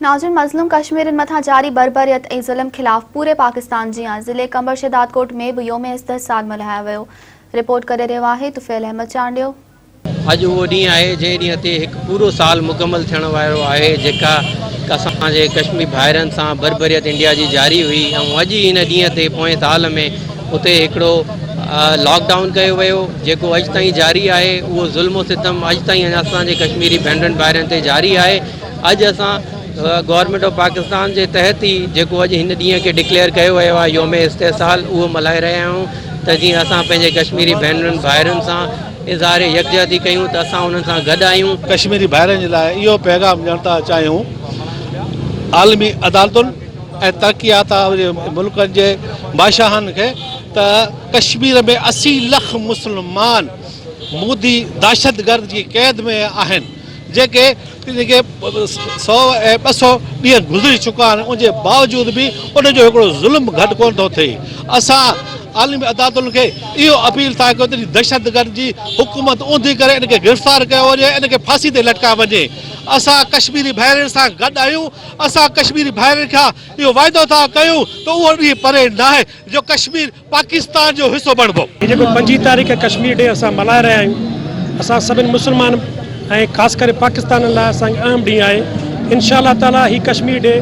ناظرين مظلوم ڪشميرين مٿان جاري بربريت ۽ ظلم خلاف پوري پاڪستان جيان ضلعي قمبر شهدادڪوٽ ۾ به يوم استحصال ملهايو ويو رپورٽ ڪري رهيو آهي طفيل احمد چانڊيو. اڄ اهو ڏينهن آهي جنهن ڏينهن تي هڪ پورو سال مڪمل ٿيڻ وارو آهي جيڪا اسان جي ڪشميري ڀائرن سان بربريت انڊيا جي جاري هئي ۽ اڄ ئي ان ڏينهن تي پوئين سال ۾ اتي هڪڙو لاڪ ڊائون ڪيو ويو جيڪو اڄ تائين جاري آهي اهو ظلم و ستم اڄ تائين اسان جي ڪشميري ڀينرن ڀائرن تي جاري آهي اڄ اسان گورنمينٽ آف پاڪستان جي تحت ئي جيڪو اڄ هن ڏينهن کي ڊڪليئر ڪيو ويو آهي يوم استحصال اهو ملهائي رهيا آهيون ته جيئن اسان پنهنجي ڪشميري ڀينرن ڀائرن سان اظهار يڪجهتي ڪيون ته اسان انهن سان گڏ آهيون. ڪشميري ڀائرن جي لاء اهو پيغام ڏيڻ ٿا چاهيون عالمي عدالتن ۽ ترقي يافته ملڪن جي بادشاهن کي ته ڪشمير ۾ اسي لک مسلمان مودي دهشتگرد جي قيد ۾ آهن جيڪي جيڪي سؤ ۽ ٻه سؤ ڏينهن گذري چڪا آهن ان جي باوجود به ان جو هڪڙو ظلم گهٽ ڪونه ٿو ٿئي اسان عالمي عدالتن کي اهو اپيل ٿا ڪيون ته دهشتگرد جي حڪومت اوندي ڪري ان کي گرفتار ڪيو وڃي ان کي ڦاسي تي لٽڪايو وڃي اسان ڪشميري ڀائرن سان گڏ آهيون اسان ڪشميري ڀائرن کان اهو وعدو ٿا ڪيون ته اهو ڏينهن پري ناهي جو ڪشمير پاڪستان جو حصو بڻبو. هي جيڪو پنجين تاريخ ڪشمير ڊي اسان ملهائي رهيا آهيون اسان سڀني مسلمان ۽ خاص ڪري پاڪستانين لاء اسان کي اهم ڏينهن آهي انشاء الله تعالٰي هي ڪشمير ڊي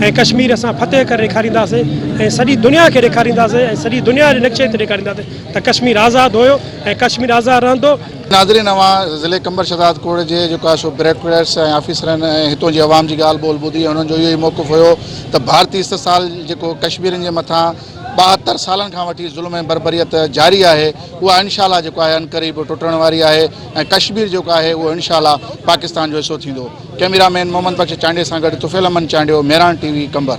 ۽ ڪشمير اسان فتح ڪري ڏيکارينداسين ۽ سڄي دنيا کي ڏيکارينداسين ۽ سڄي دنيا جي نقشي تي ڏيکارينداسين ته ڪشمير آزاد هيو ۽ ڪشمير آزاد رهندو. ناظرين اوهان ضلعي قمبر شهداد ڪوڙ جي جيڪو آهي سو بيروڪريٽس ۽ آفيسرن ۽ هتون جي عوام جي ڳالهه ٻولهه ٻڌي ۽ انهن جو اهو ئي موقف هيو ته ڀارتي استحصال جيڪو ڪشميرين جي مٿان ٻاهتر سالن کان وٺي ظلم ۽ بربريت جاري آهي اها انشاء الله جيڪو آهي عنقريب ٽٽڻ واري آهي ۽ ڪشمير جيڪو آهي اهو انشاء الله پاڪستان جو حصو ٿيندو ڪئميرا مين محمد بخش چانڊيي سان گڏ طفيل احمد چانڊيو مهراڻ ٽي وي قمبر